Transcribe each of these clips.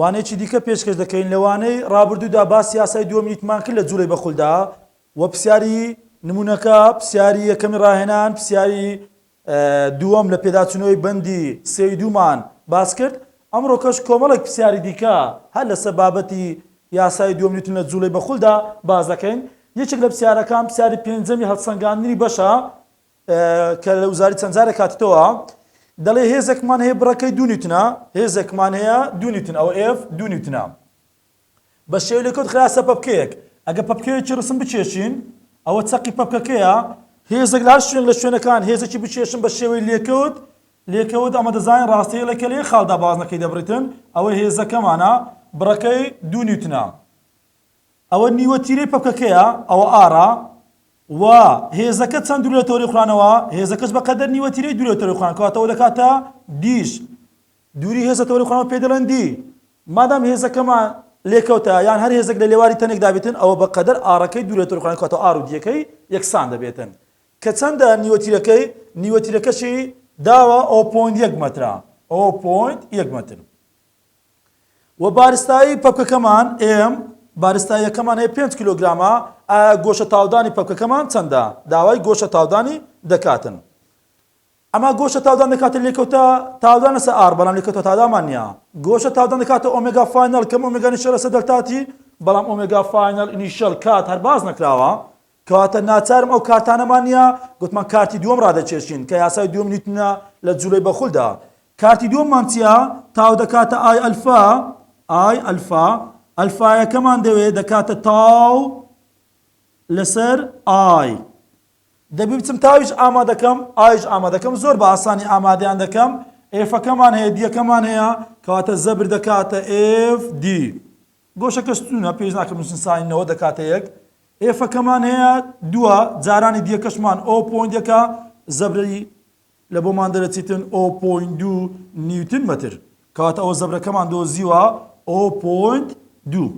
وانەیەکی دیکە پێشکەش دەکەین، لە وانەی ڕابردوودا باس یاسای دووەمیتمان کرد لە جووڵەی بەخولدا و پرسیاری نموونەکە، پرسیاری یەکەمی ڕاهێنان، پرسیاری دووەم لە پێداچوونەوەی بەندی سێ ی دوومان باس کرد. ئەمڕۆکەش کۆمەڵێک پرسیاری دیکە هەر لەسەر بابەتی یاسای دووەم نیوتن لە جووڵەی بەخولدا باس دەکەین. یەکێک لە پرسیارەکان، پرسیاری پێنجەمی هەڵسەنگاندنی بەشە کە لە وزاری چەند جارێک هاتوتەوە دەڵێ هێزەکمان هەیە بڕەکەی دوو نیوتنە هێزەکمان هەیە دوو نیوتن ئەو ئێف دوو نیوتنە بە شێو لە کەوت خراسە پەپکەیەک ئەگە پەپکەیەکی ڕسم بچێشین ئەوە چەقی پەپکەکەیە هێزێک لە هەر شوێن لە شوێنەکان هێزێکی بچێشن بە شێوەی لێکەوت لێکەوت ئەمە دەزانین ڕاستەیە لە کەلێ خاڵدا بازنەکەی دەبڕیتن ئەوە هێزەکەمانە بڕەکەی دوو نیوتنە ئەوە نیوە تیرەی پەکەکەیە ئەوە ئارا و هێزەکە چەند دوور لە تۆری خورانەوە هێزەکەش بە قەدەر نیوە تیرەی دوور لە تۆری خوران کەواتەوە دەکاتە دیش دووری هێزە تۆری خورانەوە پێ دەڵێن دی مادام هێزەکەمان لێکەوتە یان هەر هێزێک لە لێواری تەنێکدا بێتن ئەوە بە قەدەر ئارەکەی دوور لە تۆری خوران کەواتەوە ئار و دیەکەی یەکسان دەبێتن کە چەندە نیوە تیرەکەی نیوە تیرەکەشی داوە ئەو پۆین یەک مەترە ئەو پۆین یەک مەتر وە بارستایی پەپکەکەمان ئێم بارستاییەکەمان هەیە پێنج کیلۆگرامە ئایا گۆشە تاودانی پەپکەکەمان چەندە داوای گۆشە تاودانی دەکاتن ئەما گۆشە تاودان دەکاتە لێکەوتە تاودان لەسە ئار بەڵام لێکەوتە تادامان نیە گۆشە تاودان دەکاتە ئۆمێگا فاینەڵ کەم ئۆمێگانی شەرەسە دەلتاتی بەڵام ئۆمێگا فاینەڵ ئینیشەل کات هەر باس نەکراوە کەواتە ناچارم ئەو کارتانەمان نییە، گوتمان کارتی دووەم ڕادەکێشین، کە یاسای دووەم نیوتنە لە جولەی بەخولدا. کارتی دووەممان چییە؟ تاو دەکاتە ئای ئەلفا، ئای ئەلفا، ئەلفایەکەمان دەوێت دەکاتە تاو لەسەر ئای. دەبێت بچم تاویش ئامادەکەم، ئایش ئامادەکەم، زۆر بە ئاسانی ئامادەیان دەکەم، ئێفەکەمان هەیە، دییەکەمان هەیە، کەواتە زەبر دەکاتە ئێف دی. گۆشەکە ستوونە پێویست ناکە بنووسین ساین نەوەد دەکاتە یەک ئێفەکەمان هەیە دووە جارانی دیەکەشمان ئەو پۆینتەکە زەبرەی لە بۆمان دەرەچیتن ئەو پۆین دوو نیوتن مەتر کەواتە ئەوە زەبرەکەمان دۆزیوە ئەو پۆینت دوو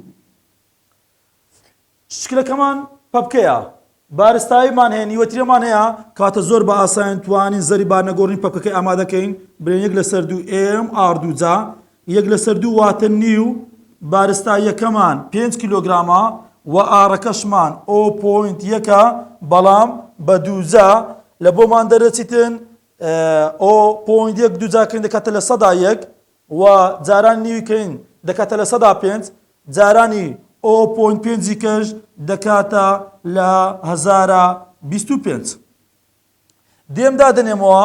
شکلەکەمان پەپکەیە بارستاییمان هەیە نیوەترێمان هەیە. کاتە زۆر بە ئاسایین توانین زەری بارنەگۆڕی پەپکەکەی ئامادە کەین بلێن یەک لەسەر دوو ئێم ئاڕ دوو جا یەک لەسەر دوو واتە نیو بارستاییەکەمان پێنج کیلۆگرامە و ئاڕەکەشمان ئۆ پۆینت یەکە بەڵام بە دوو جا لە بۆمان دەرەچیتن ئۆ پۆینت یەک دوو جاکەین دەکاتە لە سەدا یەک و جارانی نیوی کەین دەکاتە لە سەدا پێنج، جارانی. ئۆ پۆینت پێنجی کەش دەکاتە لە هەزارا بیست و پێنج. دێم دادەنێمەوە،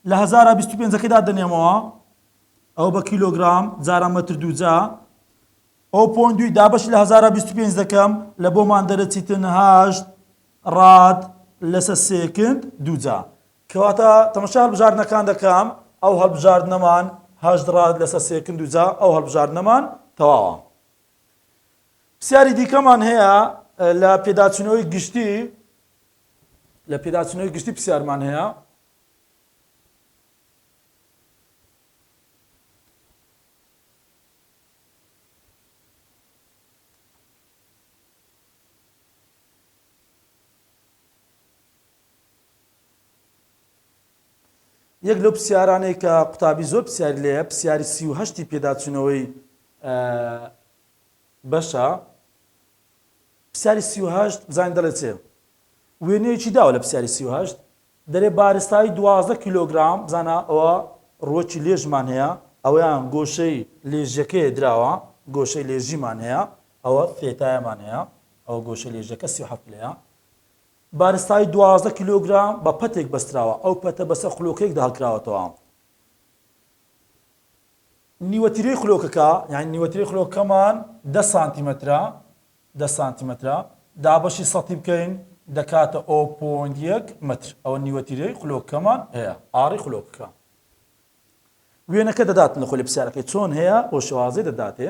لە هەزارا بیست و پێنجەکەی دادەنێمەوە، ئەوە بە کیلۆگرام جارا مەتر دووجا. ئۆ پۆینت دووی دابەشی لە هەزارا بیست و پێنج دەکەم، لە بۆمان دەرەچیتن هەشت راد لەسە سێکند دووجا. کەواتە تەمەشای هەڵبژاردنەکان دەکەم، ئەو هەڵبژاردنەمان هەشت ڕاد لەسەر سێکند و جا ئەو هەڵبژاردنەمان تەواوە. پرسیاری دیکەمان هەیە لە پێداچوونەوەی گشتی لە پێداچوونەوەی گشتی پرسیارمان هەیە یەک لەو پرسیارانەی کە قوتابی زۆر پرسیاری لێیە پرسیاری سی و هەشتی پێداچوونەوەی بەشە پرسیاری سی و هەشت بزانین دەڵێت چێ وێنەیەکی داوە لە پرسیاری سی و هەشت دەرێ بارستایی دوازدە کیلۆگرام بزانە ئەوە ڕوەکی لێژمان هەیە ئەویان گۆشەی لێژەکەی دراوە گۆشەی لێژیمان هەیە ئەوە فێتایەمان هەیە ئەوە گۆشە لێژەکە سی و هەفت لەیە بارستایی دوازدە کیلۆگرام بە پەتێک بەستراوە، ئەو پەتە بەسەر خولۆکەیەکدا هەڵکراوەتەوە. نیوە تیرەی خولۆکەکە، یانی نیوە تیرەی خولۆکەکەمان دە سانتیمەترە، دە سانتیمەترە، دابەشی سەتی بکەین دەکاتە ئۆ پۆینت یەک مەتر، ئەوە نیوە تیرەی خولۆکەکەمان هەیە، ئاڕی خولۆکەکە. وێنەکە دەداتن لە خولە پرسیارەکەی چۆن هەیە، ئەو شێوازەی دەداتێ.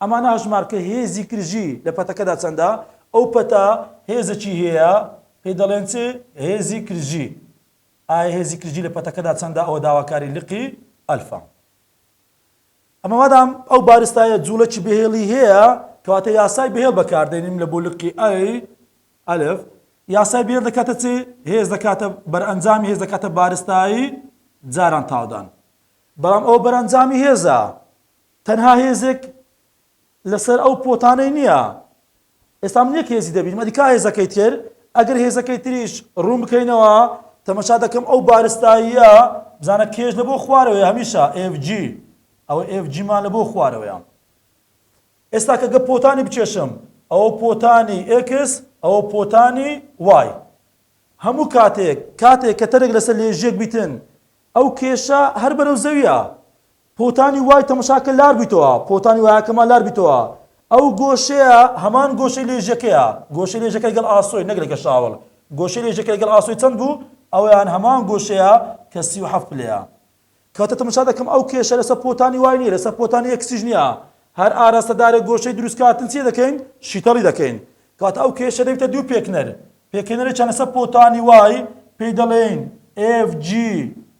ئەمانە هەژمار کە هێزی کرژی لە پەتەکەدا چەندە، ئەو پەتە هێزەکی هەیە پێی دەڵێن چ؟ هێزی کرژی. ئایا هێزی کرژی لە پەتەکەدا چەندە ئەوە داواکاری لقی ئەلفا. ئەمە مادام ئەو بارستایە جوڵەکی بەهێڵی هەیە کەواتە یاسای بەهێڵ بەکاردێنیم لە بۆ لقی ئەی ئەلف یاسای بێر دەکاتە چ هێز دەکاتە بەرئەنجامی هێز دەکاتە بارستایی جاران تاودان بەڵام ئەو بەرەنجامی هێزە تەنها هێزێک لەسەر ئەو پۆتانەی نیە ئێستا من یەک هێزی دەبینم ئەدی کا هێزەکەی تر ئەگەر هێزەکەی تریش ڕوون بکەینەوە تەمەشا دەکەم ئەو بارستاییە بزانە کێش لە بۆ خوارەوەی هەمیشە FG ئەوە FG مان لە بۆ خوارەوەیە ئێستا کە گە پۆتانی بچێشم ئەوە پۆتانی X ئەوە پۆتانی Y هەموو کاتێک کاتێک کە تەرێک لەسەر لێژێک بیتن ئەو کێشە هەر بەرەو زەویە پۆتانی وای تەمشاکە لار بیتەوە، پۆتانی وایەکەمان لار بیتەوە، ئەو گۆشەیە هەمان گۆشەی لێژەکەیە، گۆشەی لێژەکە لەگەڵ ئاسۆی نەک لەگەڵ شاوەڵ، گۆشەی لێژەکە لەگەڵ ئاسۆی چەند بوو؟ ئەویان هەمان گۆشەیە کە سی و حەفت پلەیە. کەواتە تەمشا دەکەم ئەو کێشە لەسەر پۆتانی وای نییە، لەسەر پۆتانی ئێکسیش نییە. هەر ئاراستەدارێک گۆشەی دروستکاتن چی دەکەین؟ شیتەڵی دەکەین. کەواتە ئەو کێشە دەبیتە دوو پێکنەر. پێکهێنەرێکیان لەسەر پۆتانی وای پێی دەڵێین ئێف جی.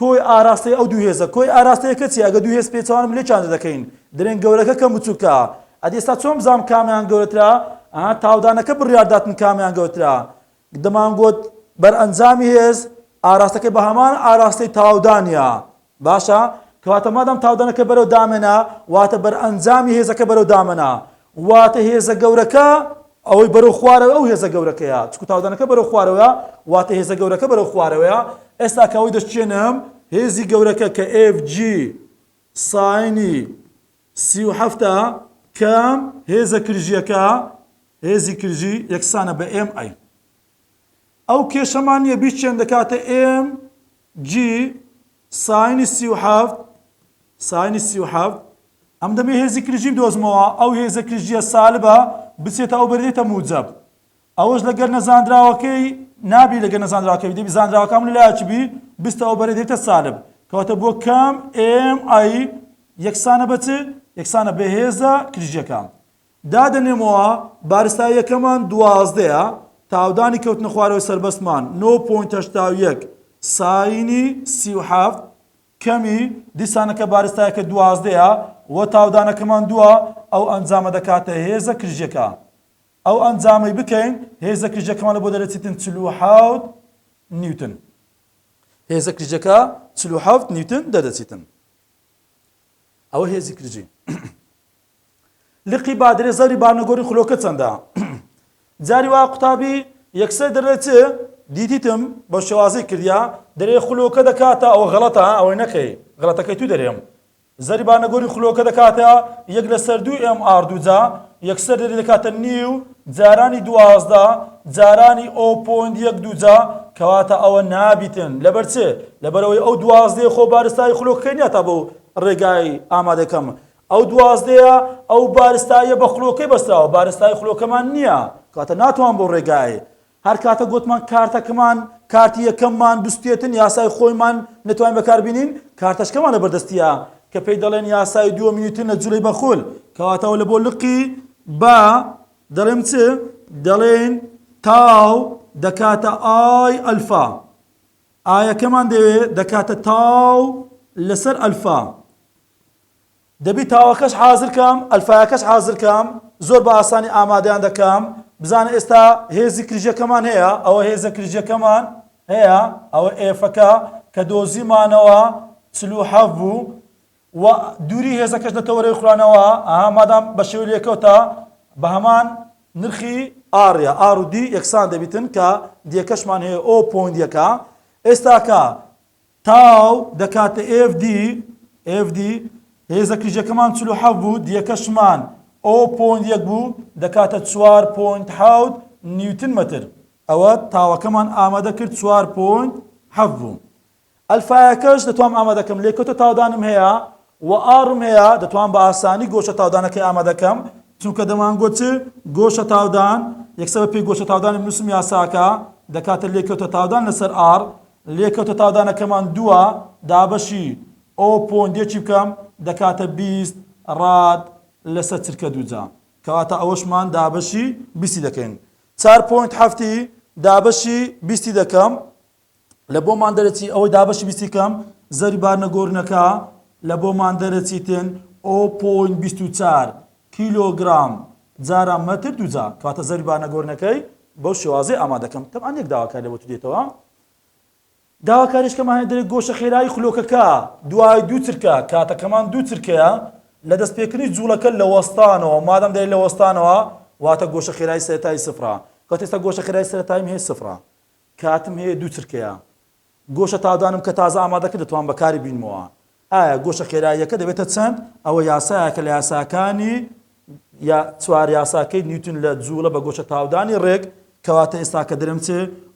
کۆی ئاراستەی ئەو دوو هێزە کۆی ئاراستەیەکە چیە ئەگە دوو هێز پێچەوانەبن لێ چاند دەکەین درێنگ گەورەکە کەم بچوکە ئەدی ئێستا چۆن بزانم کامیان گەورەترە ئەها تاودانەکە بڕیارداتن کامیان گەورترە دەمان گۆت بەرئەنجامی هێز ئاراستەکە بە هەمان ئاراستەی تاودانە باشە کەواتە مادەم تاودانەکە بەرەو دامێنە واتە بەرئەنجامی هێزەکە بەرەو دامەنە واتە هێزە گەورەکە ئەوەی بەرەو خوارەوەیە ئەو هێزە گەورەکەیە، چونکو تاودانەکە بەرەو خوارەوەیە واتە هێزە گەورەکە بەرەو خوارەوەیە، ئێستا کە ئەوەی دەشکێنم هێزی گەورەکە کە ئێف جی ساینی سی و حەفت ە کەم هێزە کرژییەکە هێزی کرژی یەکسانە بە ئێم ئەی. ئەو کێشەمان نیە بیچێن دەکاتە ئێم جی ساینی سی و حەفت ساینی سی و حەفت ئەم دەبێ هێزی کریژی بدۆزمەوە ئەو هێزە کریژیە سالبە بچێتە ئەو بەرێتە موجەب ئەوەش لەگەر نەزانراوەکەی نابی لەگە نەزانراوەکەی دەبی زانراوەکەم لە لایەکی بی بستە ئەو بەرێ دێتە سالب کەواتە بۆ کام ئێم ئای یەکسانە بەچ یەکسانە بەهێزە کریژیەکە دادەنێمەوە بارسا یەکەمان دوازدەیە تاودانی کەوتنە خوارەوەی سەربەستمان نۆ پۆینت هەشتا و یەک ساینی سی و حەفت کەمی دیسانەکە بارستایەکە دوازدەیە وە تاودانەکەمان دووە ئەو ئەنجامە دەکاتە هێزە کرژیەکە ئەو ئەنجامەی بکەین هێزە کرژەکەمان لە بۆ دەرەچیتن چل و حەوت نیوتن هێزە کرژەکە چل و حەوت نیوتن دەدەچیتن ئەوە هێزی کرژی لقی بادرێ زەبری بارنەگۆری خولۆکە چەندە؟ جاری وا قوتابی یەکسەر دەرێ چ؟ دیتیتم بە شێوازی کردیا دەرێ خولۆکە دەکاتە ئەوە غەڵەتە ئەوەی نەکەی غەڵەتەکەی تو دەرێم زەری بارنەگۆری خولۆکە دەکاتە یەک لەسەر دوو ئێم ئار دووجا یەکسەر دەری دەکاتە نیو جارانی دوازدە جارانی ئەو پۆند یەک دووجا کەواتە ئەوە نابیتن لەبەر چ لەبەرەوەی ئەو دوازدەی خۆ بارستایی خولۆکەکەی نیە تا بەو ڕێگای ئامادەکەم ئەو دوازدەیە ئەو بارستاییە بە خلۆکەی بەستراوە بارستایی خلۆکەمان نیە کەواتە ناتوان بەو ڕێگایەی هەر کاتە گۆتمان کارتەکمان کارتی یەکەممان بسوتێتن یاسای خۆیمان نەتوانین بەکار بینین کارتەشکەمان لە بەردەستیە کە پێی دەڵێن یاسای دووە میوتن لە جولەی بەخول کەواتەوە لە بۆ لقی با دەڵێم چ دەڵێن تاو دەکاتە ئای ئەلفا ئایەکەمان دەوێ دەکاتە تاو لەسەر ئەلفا دەبی تاوەکەش حازر کام ئەلفایەکەش حازر کام زۆر بە ئاسانی ئامادەیان دەکام بزانە ئێستا هێزی کریژەکەمان هەیە ئەوە هێزە کریژەکەمان هەیە ئەوە ئێفەکە کە دۆزیمانەوە چل و حەف بوو و دووری هێزەکەش لە تەوەرەی خورانەوە ئەها مادام بە شێوی لێکەوتە بە هەمان نرخی ئاڕە ئار و دی یەکسان دەبیتن کە دیەکەشمان هەیە ئەو پۆندیەکە ئێستاکە تاو، دەکاتە ئێف دی، F D، هێزە کیژەکەمان چل و حەفت بوو، دیەکەشمان، O پۆینت یەک بوو، دەکاتە چوار پۆینت حەوت نیوتن مەتر. ئەوە تاوەکەمان ئامادە کرد چوار پۆینت حەفت بوو. ئەلفایەکەش دەتوام ئامادە کەم، لێکەوتە تاودانم هەیە و ئاڕم هەیە، دەتوام بە ئاسانی گۆشە تاودانەکەی ئامادە کەم، چونکە دەمانگوت چ، گۆشە تاودان، یەکسەر بە پێی گۆشە تاودانی بنووسم یاساکە، دەکاتە لێکەوتە تاودان لەسەر ئاڕ، لێکەوتە تاودانەکەمان دووە، دابەشی ئۆ پۆند یەکی بکەم دەکاتە بیست راد لەسەر چرکە دووجا، کەواتە ئەوەشمان دابەشی بیستی دەکەین. چار پۆینت حەفتی دابەشی بیستی دەکەم، لە بۆمان دەرەچی ئەوەی دابەشی بیستی کەم زەوری بارنەگۆرنەکە لە بۆمان دەرەچیتن ئۆ پۆینت بیست و چار کیلۆگرام، جاران مەتر دووجا، کەواتە زەوی بانەگۆرنەکەی بەو شێوازەی ئامادەکەم، تەبعەن یەک داواکاری لەبۆ تو دێتەوە، داواکاریشکەمان هەیە دەرێ گۆشە خێرایی خلۆکەکە دوای دوو چرکە کاتەکەمان دوو چرکەیە لە دەست پێکردنی جوڵەکە لە وەستانەوە مادەم دەرێ لە وەستانەوە واتە گۆشە خێرایی سەرەتایی سفرە کەواتە ئێستا گۆشە خێرایی سەرەتاییم هەیە سفرە کاتم هەیە دوو چرکەیە گۆشە تاودانم کە تازە ئامادە کرد دەتوانم بەکاری بینمەوە ئایا گۆشە خێراییەکە دەبێتە چەند ئەوە یاسایەکە لە یاساکانی یا چوار یاساکەی نیوتن لە جوڵە بە گۆشە تاودانی ڕێک کەواتە ئێستا کە درم چ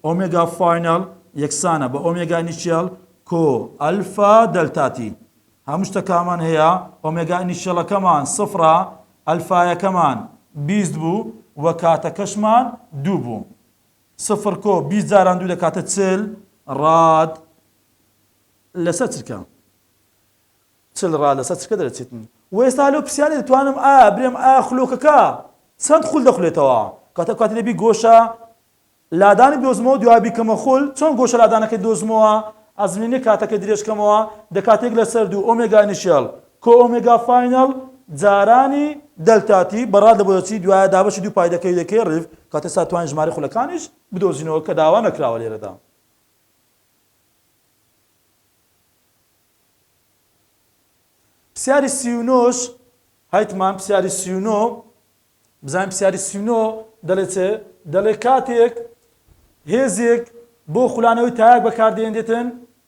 ئۆمێگا فاینەڵ یەکسانە بە ئۆمێگا نیشیەڵ کۆ ئەلفا دەلتاتی هەموو شتەکامان هەیە ئۆمێگا نیشیەڵەکەمان سفرە ئەلفایەکەمان بیست بوو و کاتەکەشمان دوو بوو سفر کۆ بیست جاران دوو دەکاتە چل ڕاد لەسەر چرکە. چل ڕاد لەسەر چرکە دەرەچێت. و ئێستا لەو پرسیارێ دەتوانم ئایا برێم ئایا خلۆکەکە چەند خول دەخولێتەوە؟ کاتە کاتی دەبی گۆشە لادانی بدۆزمەوە دوای بیکەمە خول چۆن گۆشە لادانەکەی دۆزمەوە ئەزمینی کاتەکە درێژکەمەوە دەکاتێک لەسەر دوو ئۆمێگا نیشێڵ کۆ ئۆمێگا فاینەڵ جارانی دەلتا تی بە ڕادە بۆیەچی دوایە دابەشی دوو پای دەکەوی دەکەی ڕیڤ کاتێ سا توانین ژمارەی خولەکانیش بدۆزینەوە کە داوا نەکراوە لێرەدا. پسیاری سی و نۆ ش هایتمان پسیاری سی و نۆ بزانین پسیاری سی و نۆ دەلێ چێ دەلێ کاتێک هێزێک بۆ خولانەوەی تایەک بەکاردێنرێتن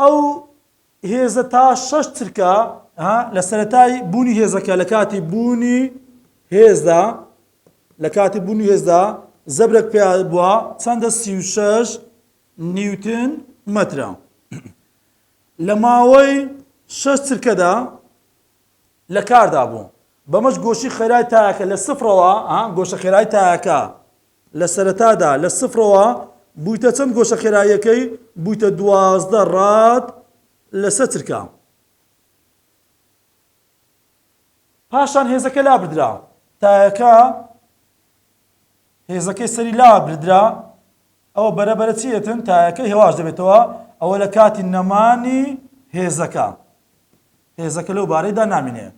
ئەو هێزە تا شەش چرکە لە سەتای بوونی هێزەکە لە کاتی بوونی هێزدا لە کاتی بوونی هێزدا زەبرەک پێ بووە چەندە سی و شەش نیوتن مەترە لە ماوەی شەش چرکەدا لە کاردا بوو بەمەش گۆشی خێرای تاکە لە سفرەوە گۆشە خێرای تاکە لە سەرەتادا لە سفرەوە بوویتە چەند گۆشە خێراییەکەی بوویتە دوازدە ڕاد لە سە چرکە. پاشان هێزەکە لابردرا تایەکە هێزەکەی سەری لا بردرا ئەوە بەرە بەرە چی ئێتن تایەکە هێواش دەبێتەوە ئەوە لە کاتی نەمانی هێزەکە هێزەکە لەو بارەیدا نامینێ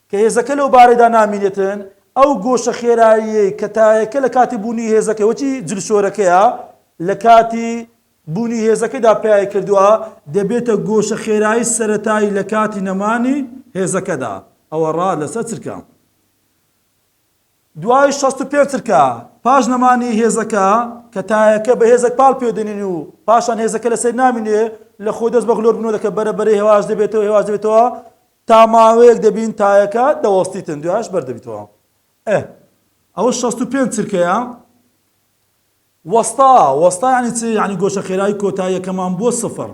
کە هێزەکە لەو بارەیدا نامینێتن، ئەو گۆشە خێراییەی کە تایەکە لە کاتی بوونی هێزەکە وەکی جلشۆرەکەیە لە کاتی بوونی هێزەکەدا پیای کردووە، دەبێتە گۆشە خێرایی سەرەتایی لە کاتی نەمانی هێزەکەدا، ئەوە ڕا لەسەر چرکە دوای شەست و پێنج چرکە پاش نەمانی هێزەکە، کە تایەکە بە هێزەک پاڵ پێدەنێن و پاشان هێزەکە لەسەر نامینێ، لە خۆ دەست بە غلۆر بنۆدەکە بەرە بەرەی هێواش دەبێتەوە هێواش دەبێتەوە تا ماوەیەک دەبین تایەکە دەوەستیتن دوایش بەردەبیتەوە ئه ئەوە شەست و پێنج چرکەیە وەستا وەستا ینی چ ینی گۆشە خێرای کۆتاییەکەمان بووە سفر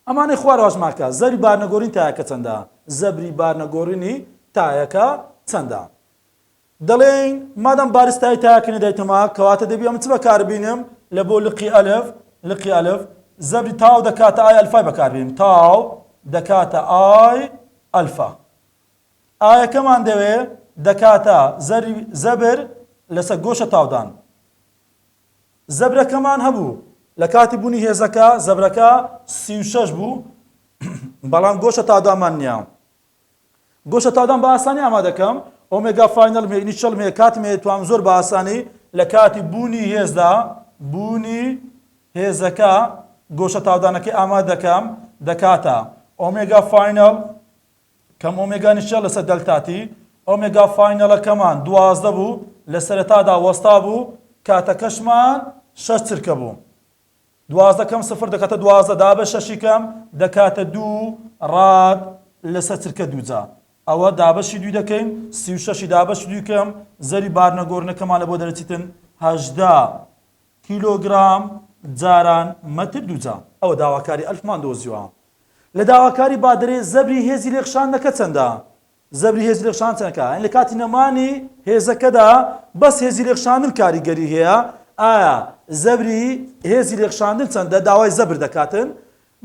ئەمانەی خوارەوەش ماکە زەری بارنەگۆرین تایەکە چەندە زەبری بارنەگۆڕینی تایەکە چەندە دەڵێین مادام بارستای تاکە نەدایتە ما کەواتە دەبی ئەم چ بەکاربینم لە بۆ لقی ئەلف لقی ئەلف زەبری تاو دەکاتە ئای ئەلفای بەکاربینم تاو دەکاتە ئای ئەلفا ئایەکەمان دەوێ دەکاتە زەبر لەسەر گۆشە تاودان زەبرەکەمان هەبوو لە کاتی بوونی هێزەکە زەبرەکە سی شەش بوو بەڵام گۆشە تادامان نییە گۆشە تاودان بە ئاسانی ئامادەکەم، ئۆمێگا فاینەلم هەیە، نیچەڵم هەیە، کاتم هەیە، توانم زۆر بە ئاسانی لە کاتی بوونی هێزدا، بوونی هێزەکە، گۆشە تاودانەکەی ئامادەکەم، دەکاتە، ئۆمێگا فاینەل، کەم ئۆمێگا نیچەڵ لەسەر دەلتا تی، ئۆمێگا فاینەلەکەمان دوازدە بوو، لە سەرەتادا وەستابوو، کاتەکەشمان شەش چرکە بوو. دوازدە کەم سفر دەکاتە دوازدە دا بە شەشی کەم دەکاتە دوو ڕاد لەسەر چرکە دووجا ئەوە دابەشی دووی دەکەین سی و شەشی دابەش دووی کەم زەری بارنە گۆرنەکەمان لە بۆ دەرەچیتن هەژدە کیلۆگرام جاران مەتر دووجا ئەوە داواکاری ئەلفمان دۆزیوە لە داواکاری بادرێ زەبری هێزی لێکشاندنەکە چەندە؟ زەبری هێزی رێکخشان چەنە کار؟ یانی لە کاتی نەمانی هێزەکەدا بەس هێزی رێکخشاندن کاریگەری هەیە؟ ئایا زەبری هێزی رێکخشاندن چەندە؟ داوای زەبر دەکاتن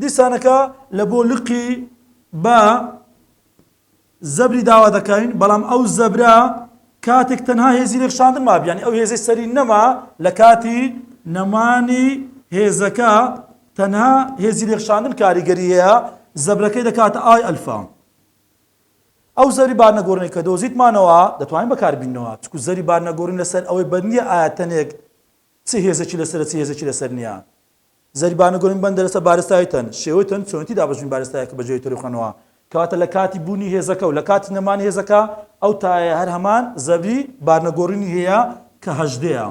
دیسانەکە لە بۆ لقی بە زەبری داوا دەکەین بەڵام ئەو زەبرە کاتێک تەنها هێزی رێکخشاندن مابی یانی ئەو هێزەی سەری نەما لە کاتی نەمانی هێزەکە تەنها هێزی رێکخشاندن کاریگەری هەیە زەبرەکەی دەکاتە ئای ئەلفا. ئەو زەری بارنەگۆڕینەی کە دۆزیتمانەوە دەتوانین بەکاربیننەوە، چونکو زەری بارنەگۆڕین لەسەر ئەوەی بەند نییە ئایا تەنێک چ هێزێکی لەسەرە چ هێزێکی لەسەر نییە. زەری بارنەگۆڕین بەندە لەسەر بارستایی تەن، شێوەی تەن، چۆنێتی دابەشبوونی بارستایەکە بە جۆرێکی ڕووخەنەوە، کەواتە لە کاتی بوونی هێزەکە و لە کاتی نەمانی هێزەکە ئەو تایەیە هەر هەمان زەبری بارنەگۆڕینی هەیە کە هەژدەیە.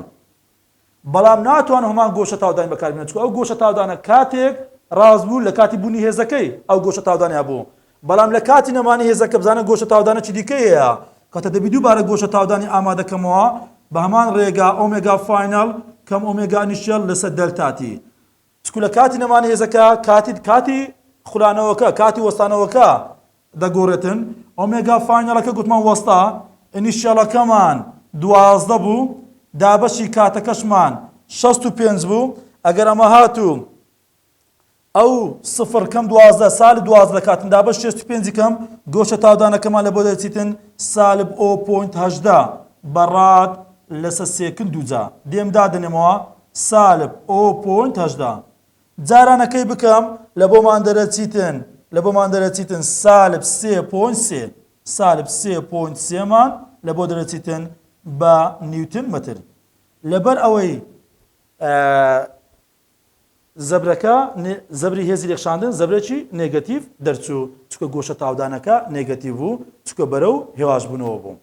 بەڵام ناتوانم هەمان گۆشە تاودانی بەکاربێنم چونکە ئەو گۆشە تاودانە کاتێک ڕاست بوو لە کاتی بوونی هێزەکەی ئەو گۆشە تاودانی هەبوو بەڵام لە کاتی نەمانی هێزەکە بزانە گۆشە تاودانە چی دیکە هەیە کەتە دەبی دووبارە گۆشە تاودانی ئامادەکەمەوە بە هەمان ڕێگا ئۆمێگا فاینەڵ کەم ئۆمێگا نیشتێڵ لەسەر دەلتاتی چکو لە کاتی نەمانی هێزەکە کاتی کاتی خولانەوەکە کاتی وەستانەوەکە دەگۆرێتن ئۆمێگا فاینەڵەکە گوتمان وەستا ئینیشیەڵەکەمان دوازدە بوو دابەشی کاتەکەشمان شەست و پێنج بوو ئەگەر ئەمە هاتوو ئەو سفر کەم دوازدە سالب دوازدە کاتن دابەش شەست و پێنجی کەم گۆشە تاودانەکەمان لە بۆ دەچیتن سالب ئۆ پۆینت هەژدە بەڕاد لەسە سێکن دووجا دێم دادەنێمەوە سالب ئۆ پۆینت هەژدە. جاران ە کەی بکەم لە بۆ مان دەرە چیتن لە بۆ مان دەرە چیتن سالب سێ پۆینت سێ سالب سێ پۆینت سێ مان لە بۆ دەرە چیتن بە نیوتن مەتر لە بەر ئەوەی زەبرەکە نێ زەبری هێزی لێکشاندن زەبرێکی نێگەتیڤ دەرچوو چکە گۆشە تاودانەکە نێگەتیڤ بوو چکە بەرەو هێواش بوونەوە بوو.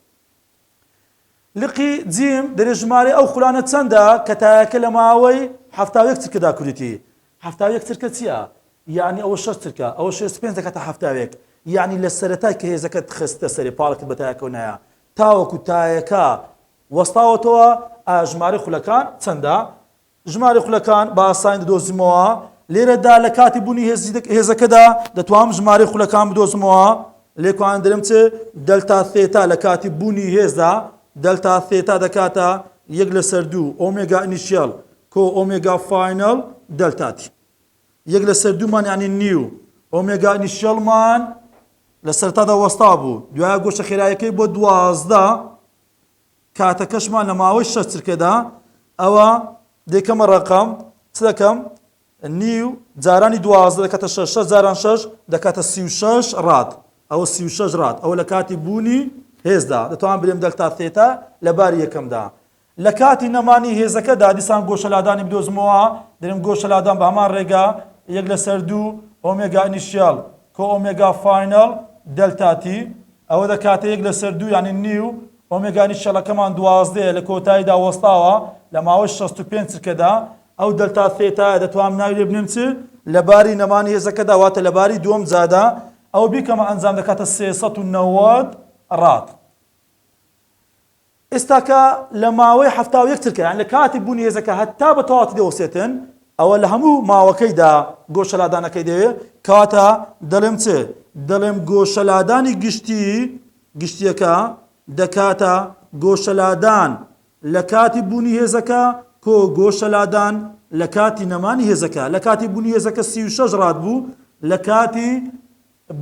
لقی جیم، دەرێ ژمارەی ئەو خولانە چەندە کە تایەکە لە ماوەی حەفتا و یەک چرکە دا کوریتی؟ حەفتا و یەک چرکە چییە؟ یانی ئەوە شەش چرکە، ئەوە شێست پێنج دەکاتە حەفتا و یەک، یانی لە سەرەتای کە هێزەکەت خستتە سەرێ پاڵێکت بە تایەکەوە نایە تاوەکو تایەکە وەستاوەتەوە، ئایا ژمارەی خولەکان چەندە؟ ژمارەی خولەکان بە ئاسانی دەدۆزمەوە، لێرەدا لە کاتی بوونی هێزەکەدا دەتوانم ژمارەی خولەکان بدۆزمەوە، لێکوان دەرم چ دەلتا ثێتا لە کاتی بوونی هێزدا دەلتا ثێتا دەکاتە یەک لەسەر دوو ئۆمێگا ئینیشیەڵ کۆ ئۆمێگا فاینەڵ دەلتا تی یەک لەسەر دوومان یعنی نیو ئۆمێگا ئینیشیەڵمان لە سەرتادا وەستا بوو دوای گۆشە خێرایەکەی بۆ دوازدە کاتەکەشمان لە ماوەی شەش چرکەدا ئەوە دەکەمە ڕقم چ دەکەم نیو جارانی دوازدە دەکاتە شەش شەش جاران شەش دەکاتە سی و شەش ڕات ئەوە سی و شەش ڕات ئەوە لە کاتی بوونی هێزدا دەتوان برێم دەلتا ثێتا لە باری یەکەمدا لە کاتی نەمانی هێزەکەدا دیسان گۆشەلادانی بدۆزمەوە دەرم گۆشەلادان بە هەمان ڕێگا یەک لەسەر دوو ئۆمێگا ئینیشیال کۆ ئۆمێگا فاینەڵ دەلتاتی ئەوە دەکاتە یەک لەسەر دوو یانی نیو، ئۆمێگانی شەلەکەمان دوازدەیە لە کۆتاییدا وەستاوە لە ماوەی شەست و پێنج چرکەدا، ئەو دەلتا ثێتایە دەتوانم ناوی لێ بنێم چ؟ لە باری نەمانی هێزەکەدا واتە لە باری دووەم جادا ئەوە بیکەمە ئەنجام دەکاتە سێ سەد و نەوەد راد. ئێستا کە لە ماوەی حەفتا و یەک چرکە یان لە کاتی بوونی هێزەکە هەتا بە تەواوەتی دەوەستێتن ئەوە لە هەموو ماوەکەیدا گۆشە لادانەکەی دەوێ کەواتە دەڵێم چ دەڵێم گۆشە لادانی گشتی گشتیەکە دەکاتە گۆشە لادان لە کاتی بوونی هێزەکە کۆ گۆشە لادان لە کاتی نەمانی هێزەکە لە کاتی بوونی هێزەکە سی و شەش ڕات بوو لە کاتی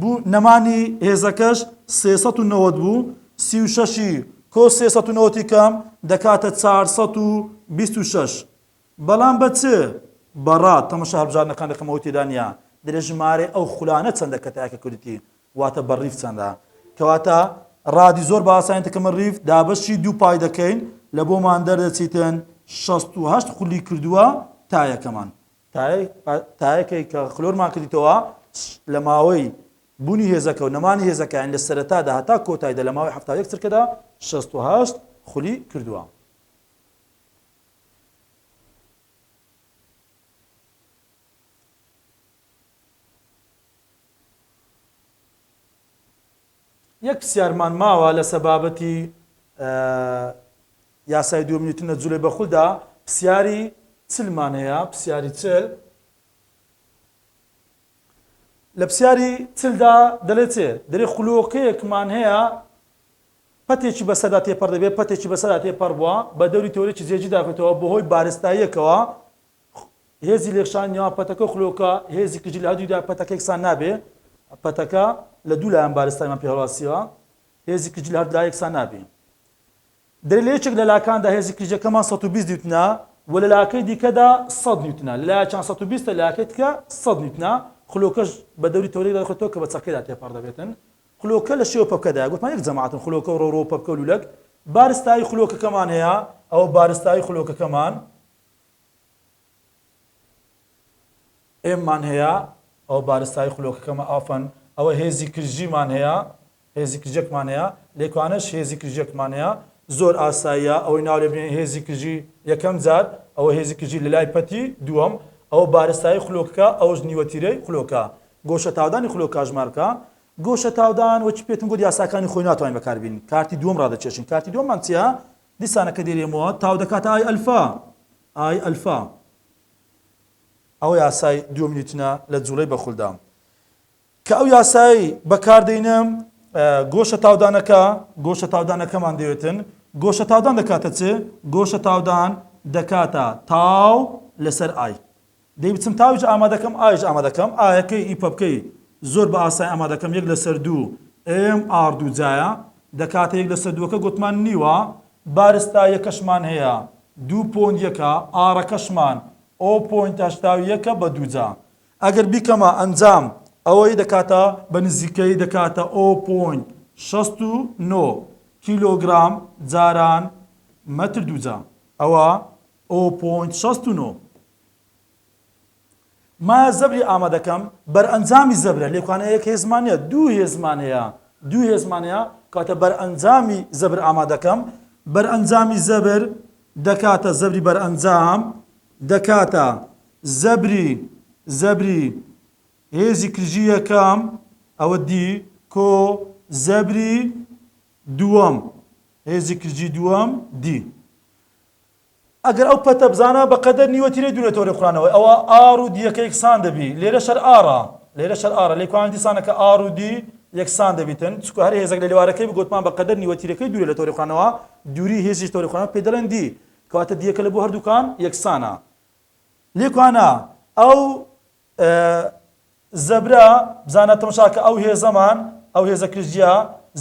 بوو، نەمانی هێزەکەش سێ سەد و نەوەد بوو، سی و شەشی کۆ سێ سەد و نەوەد ی کەم دەکاتە چار سەد و بیست و شەش، بەڵام بە چ؟ بە ڕات، تەمەشا هەڵبژاردنەکان ڕقمەوەی تێدا نییە، دەرێ ژمارەی ئەو خولانە چەندە کە تاکە کوردێتی، واتە بە ڕیف چەندە، کەواتە ڕادی زۆر بە ئاسانی دەکەمە ڕیف، دابەشی دوو پای دەکەین، لە بۆمان دەردەچیتن شەست و هەشت خولی کردووە تا یەکەمان. تایەکەی کە خلۆرمان کردیتەوە لە ماوەی بوونی هێزەکە و نەمانی هێزەکەیان لە سەرەتادا هەتا کۆتایدا لە ماوەی هەفتا یەک چرکەدا 68 خولی کردووە. یەک پرسیارمان ماوە لەسەر بابەتی یاسای دووەم نیوتنە جولەی بەخولدا پسیاری چلمان هەیە، پسیاری چل. لە پسیاری چلدا دەلێ چێ؟ دەلێ خولۆکەیەکمان هەیە پەتێکی بەسەردا تێپەڕ دەبێت، پەتێکی بەسەردا تێپەڕ بووە، بە دەوری تەورێکی جێگی داکەوتەوە، بەهۆی بارستاییەکەوە هێزی لێکشانی نێوان پەتەکە و خولۆکە هێزی کجی لە هەردوویدا پەتەکە یەکسان نابێ، پەتەکە لە دوو لایەن بارستایمان پێ هەڵواسیوە، هێزی کجی لە هەردوو لا یەکسان نابێ. دەرێ لە یەکێک لە لاکاندا هێزی کلیجەکەمان سەد و بیست نیوتنە و لە لاکەی دیکەدا سەد نیوتنە، لە لایەکیان سەد و بیست ە لە لایەکەی دیکە سەد نیوتنە، خلۆکەش بە دەوری تەورێکدا دەخولێتەوە کە بە چەقێدا تێپەڕ دەبێتن. خلۆکە لە شێوە پەپکەدایە، گوتمان یەک جەماتن، خلۆکە و ڕەوڕە و پەپکە و لوولەک. بارستایی خلۆکەکەمان هەیە، ئەوە بارستایی خلۆکەکەمان. ئێممان هەیە، ئەوە بارستایی خولۆکەکەمە، ئافەن، ئەوە هێزی کرژیمان هەیە، هێزی کرژێکمان هەیە، لێکانەش هێزی کرژێکمان هەیە، زۆر ئاساییە ئەوەی ناو لێ بنێین هێزی کرژی یەکەم جار، ئەوە هێزی کرژی لە لای پەتی دووەم، ئەوە بارستایی خولۆکەکە، ئەوەش نیوەتیرەی خولۆکە. گۆشەتاودانی خولۆک کاژمارکە، گۆشەتاودان وەکی پێتم گوت یاساکانی خۆی ناتوانین بەکار بێنین، کارتی دووەم ڕادەکێشین، کارتی دووەممان چییە؟ دیسانەکە دێرێمەوە، تاو دەکاتە ئای ئەلفا، ئای ئەلفا ئەوە یاسای دوو نیوتنە لە جوڵەی بەخولدا کە ئەو یاسایەی بەکاردەینە گۆشە تاودانەکە گۆشە تاودانەکەمان دەوێتن گۆشە تاودان دەکاتە چ گۆشە تاودان دەکاتە تاو لەسەر ئای دەیوتم تاوج ئامادەکەم ئایش ئامادەکەم ئایەکەی ئی پەپکەی زۆر بە ئاسای ئامادەکەم یەک لەسەر دوو ئێم ئاڕ دوو جایە دەکاتە یەک لەسەر دووەکە گۆتمان نیوە بارستا یەکەشمان هەیە دوو پۆند یەکە ئاڕەکەشمان ئۆ پۆینت هەشتا و یەکە بە دوو جا ئەگەر بیکەمە ئەنجام ئەوەی دەکاتە بە نزیکەی دەکاتە ئۆ پۆینت شەست و نۆ کیلۆگرام جاران مەتر دوو جا ئەوە ئۆ پۆینت شەست و نۆ مایە زەبری ئامادەکەم بەرئەنجامی زەبرە لێکوانە یەک هێزمان نیە دوو هێزمان هەیە دوو هێزمان هەیە کاتە بەرئەنجامی زەبر ئامادەکەم بەرئەنجامی زەبر دەکاتە زەبری بەرئەنجام دەکاتە زەبری زەبری هێزی کرژی یەکەم ئەوە دی کۆ زەبری دووەم هێزی کرژی دووەم دی ئەگەر ئەو پەتە بزانە بە قەدەر نیوە تیرەی دوو لە تۆرەی قورانەوەی ئەوا ئاڕ و دی یەکە یەکسان دەبی لێرەش هەر ئاڕە لێرەش هەر ئاڕە لێکوانە دیسانە کە ئاڕ و دی یەکسان دەبیتن چونکە هەر هێزەک لە لێوارەکەی بگۆتمان بە قەدەر نیوە تیرەکەی دوورە لە تۆرەی قورانەوە دووری هێزیش تۆرەی قورانەوە پێ دەڵێن دی کەواتە دیەکە لە بۆ هەردووکان یەکسانە لێکوانە ئەو ئە زە برا بزانە تمشا کە ئە و هێزە مان ئە و هێزە کرجیە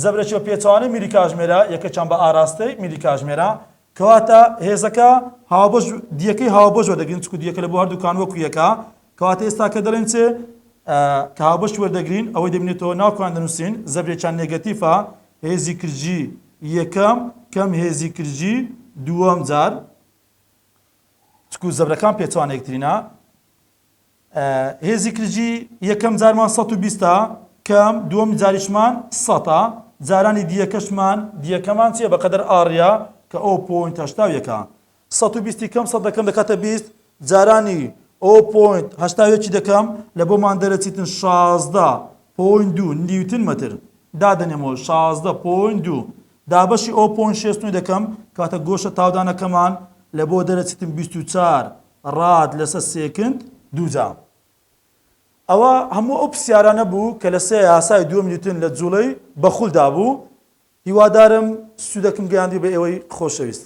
زە برە چێ و پێچەوانەی میری کاژمێرە یە کە چان بە ئاراستەی میری کاژمێرە کە واتە هێزە کە هاوبەش دیە کەی هاوبەش وە دەگرین چکو دیە کە لە بۆ هەردوو کان وە کو یە کە کە واتە ئێستا کە دەڵێن چێ ئە کە هاوبەش وە دەگرین ئەوەی دەبینێتەوە ناو کان دەنووسین زە برێ چان نێگەتیفە هێزی کرجی یەکەم کەم هێزی کرجی دووەم جار تک و زەبرەکان پێچەوانەیەکترینە. ئە، هێزی کرجی یەکەم جارمان سەد و بیست ە، کەم، دووەم جاریشمان سەد ە، جارانی دیەکەشمان، دیەکەمان چیە بەقەدەر ئاڕیا کە ئۆ پۆینت هەشتا و یەکە. سەد و بیست ی کەم سەد دەکەم دەکاتە بیست، جارانی ئۆ پۆینت هەشتا و یەکی دەکەم، لە بۆمان دەرەچیتن شازدە پۆینت دوو نیوتن مەتر. دادەنێمەوە شازدە پۆینت دوو دابەشی ئەو پۆن شێست نوێ دەکەم کاتە گۆشە تاودانەکەمان لە بۆ دەرە چیتم بیست و چار راد لەسە سێکند دووجا ئەوە هەموو ئەو پسیارانە بوو کە لەسێ یاسای دووەم نیوتن لە جوڵەی بەخولدا بوو هیوادارم سوودەکم گەیاندی بە ئێوەی خۆشەویست.